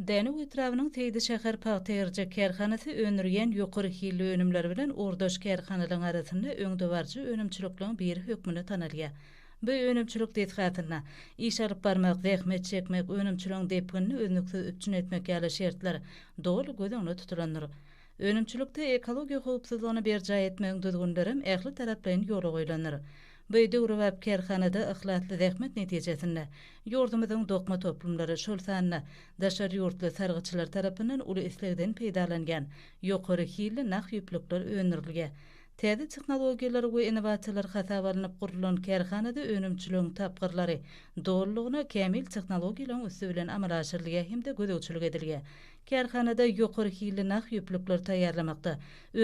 Dänew etrabynyň Seýdiçäher pagta-ýerjek kärhanasy öndürýän ýokary hilli önümleri bilen ugurdaş kärhanalaryň arasynda öňdebaryjy önümçilikligiň biri hökmünde tanalýar. Bu önümçilik desgasynda, iş alyp barmak, zähmet çekmek, önümçiligiň depginini üznüksiz üpjün etmek ýaly şertler doly göz öňünde tutulandyr. Önümçilikde ekologiýa howpsuzlygyny berjaý etmegiň düzgünlerem ähli taraplaýyn ýola goýlandyr. Bu döwrebap kärhanada yhlasly zähmet netijesinde, ýurdumyzyň dokma toplumlary, şol sanda daşary ýurtly sargytçylar tarapyndan uly islegden peýdalanýan ýokary hilli nah ýüplükler öndürilýär. Täze tehnologiýalar we innowasiýalar hasaba alnyp gurlan kärhanada önümçiligiň tapgyrlary dolulygyna kämil tehnologiýalaryň üsti bilen amala aşyrylýar hem-de gözegçilik edilýär. Kärhanada ýokary hilli nah ýüplükleri taýýarlamakda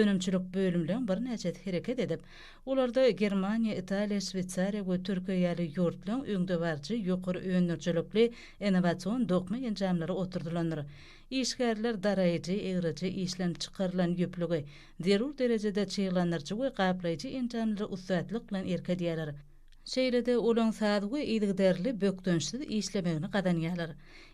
önümçilik bölümleriň birnäçesi hereket edip, olarda Germaniýa, Italiýa, Şweýsariýa we Türkiýe ýaly ýurtlaryň öňdebaryjy ýokary öndürijilikli innowasion dokma enjamlary oturdylandyr. Işgärler daraýjy, egriji, işlenip çykarylan ýüplügi zerur derejede çyglandyryjy we gaplaýjy enjamlara ussatlyk bilen erk edýärler. Şeýle-de olaň saz we yzygiderli, bökdençsiz işlemegini gazanýarlar.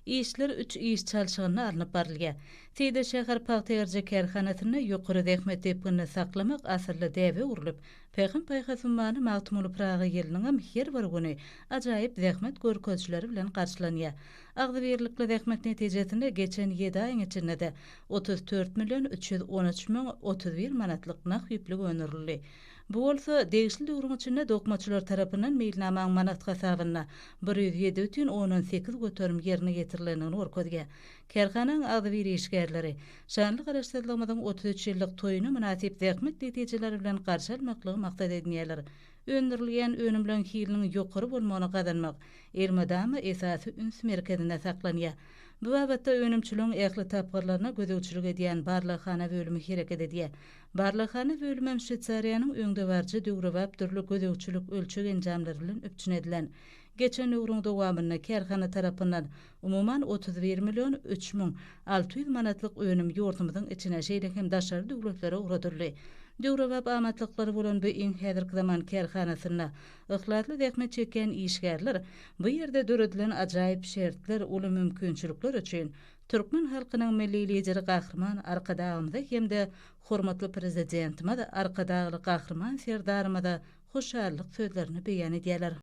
Işler üç iş çalşygynda alnyp barylýar. Seýde şäher pagta-ýerje kärhanasynda ýokary zähmet depginini saklamak asylly däbe öwrülip, Pähim-paýhas ummany Magtymguly Pyragy ýylynyňam her bir güni ajaýyp zähmet görkezijileri bilen garşylanýar. Agzybirlikli zähmet netijesinde geçen ýedi aýyň içinde-de otuz dört million üç ýüz on üç müň otuz bir manatlyk nah ýüplük öndürildi. Bu bolsa, degişli döwrüň içinde dokmaçylar tarapyndan meýilnamaň manat hasabynda bir ýüz ýedi bütin ondan sekiz göterim ýerine ýetirilendigini görkezýär. Kärhananyň agzybir işgärleri, Şanly Garaşsyzlygymyzyň otuz üç ýyllyk toýuny mynasyp zähmet netijeleri bilen garşy almaklygy maksat edinýärler. Öndürilýän önümleň hiliniň ýokary bolmagyny gazanmak elmydama esasy üns merkezinde saklanýar. Bu babatda önümçiligiň ähli tapgyrlaryna gözegçilik edýän barlaghana bölümi hereket edýär. Barlaghana bölümem Şweýsariýanyň öňdebaryjy döwrebap dürli gözegçilik-ölçeg enjamlary bilen üpjün edilen. Geçen döwrüň dowamynda kärhana tarapyndan, umuman, otuz bir million üç müň alty ýüz manatlyk önüm ýurdumyzyň içine, şeýle hem daşary döwletlere ugradyldy. Döwrebap amatlyklary bolan bu iň häzirki zaman kärhanasynda yhlasly zähmet çekýän işgärler bu ýerde döredilen ajaýyp şertler, uly mümkinçilikler üçin Türkmen halkynyň Milli Lideri Gahryman Arkadagymyza hem-de hormatly Prezidentimiz Arkadagly Gahryman Serdarymyza hoşallyk sözlerini beýan edýärler.